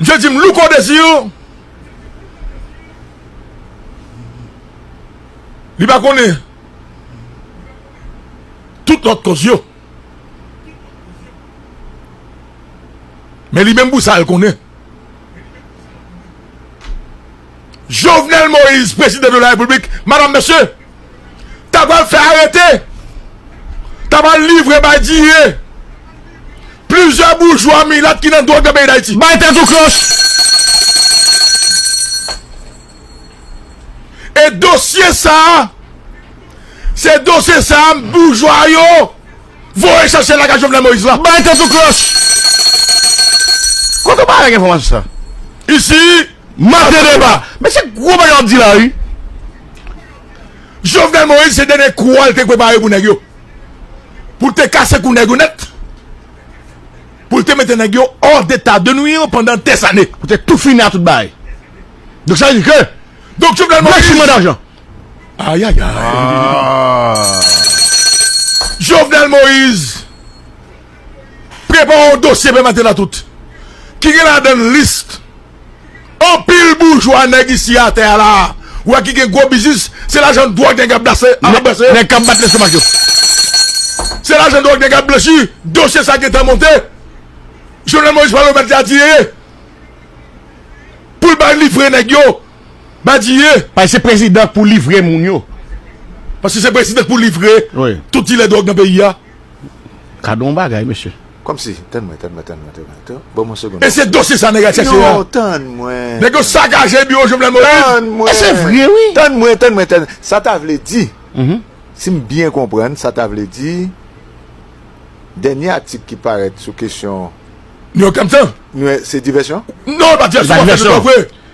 Misye di m Louko Desir li pa konnen tout lòt kòz yo. Men li menm pou sa l konnen. Jovenel Moise prezidan de la repiblik madam mesye ta pral fè arete ta pral livre bay diye plizyè boujwa milat ki nan dwòg nan peyi dayiti. Bay tèt ou kloch! E dosye sa se dosye sa boujwa yo. Voye chèche lakay Jovenel Moïse la. Bay tèt ou klòch! Kote ou bay ak enfòmasyon sa? Isi Mate Deba. Men se gwo bagay wap di la wi. Jovenel Moïse se dènye kou a li te prepare pou nèg yo. Pou li te kase kou nèg yo nèt. Pou li te mete nèg yo hors d'état de nuire pandan des années. Pou te tou fini a tout bagay. Donk sa vle di ke. Donk Jovenel Moïse. Blanchiman dajan. Jovenel Moise prepare yon dosye pe maten a tout ki gen la dan list anpil boujwa neg isi a te ala ou a ki gen gwo biznis se la jan dwag neg ap dase neg kap bat lestomak yo se la jan dwag neg ap blanchi dosye sa gen tan monte Jovenel Moise pale ou met la di ye ye poul bay li fre neg yo. Badiye. Pase se prezidan k pou livre moun yo. Pase se prezidan k pou livre tout dilè dwòg nan peyi a. Gade yon bagay mesye. Komsi. Tann mwen tann mwen tann mwen tann mwen. Ban mwen yon segonn. E se dosye sa nèg la chèche a. Non tann mwen. Nèg yo sakaje biwo Jovenel Moïse. Tann mwen. E se vre wi. Tann mwen tann mwen tann. Sa ta vle di. Si m byen konprann sa ta vle di dènye atik ki parèt sou kesyon. New York Times lan. Se divèsyon? Non e pa divèsyon. Se pa divèsyon.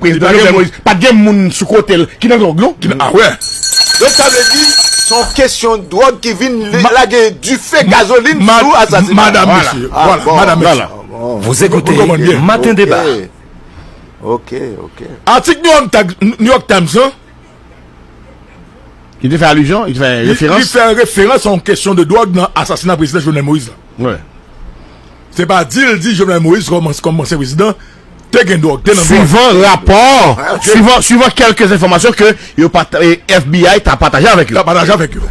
Prezidan Jovenel Moïse pat gen moun sou kote l ki nan dwòg non. Donk sa vle di se yon kesyon dwòg ki vin lage dife gazolin sou asasina. Vous écoutez matin debat. Atik New York Times lan. Li te fè alizyon, li te fè referans. Li fè referans an kesyon de dwòg nan asasina prezidan Jovenel Moïse la. Wè. Se pa di l di Jovenel Moïse kòm ansyen prezidan te gen dwòg, te nan dwòg. Suivan rapò, suivan kelke enfòmasyon ke yo pat FBI ta pataje avèk yo. Ta pataje avèk yo.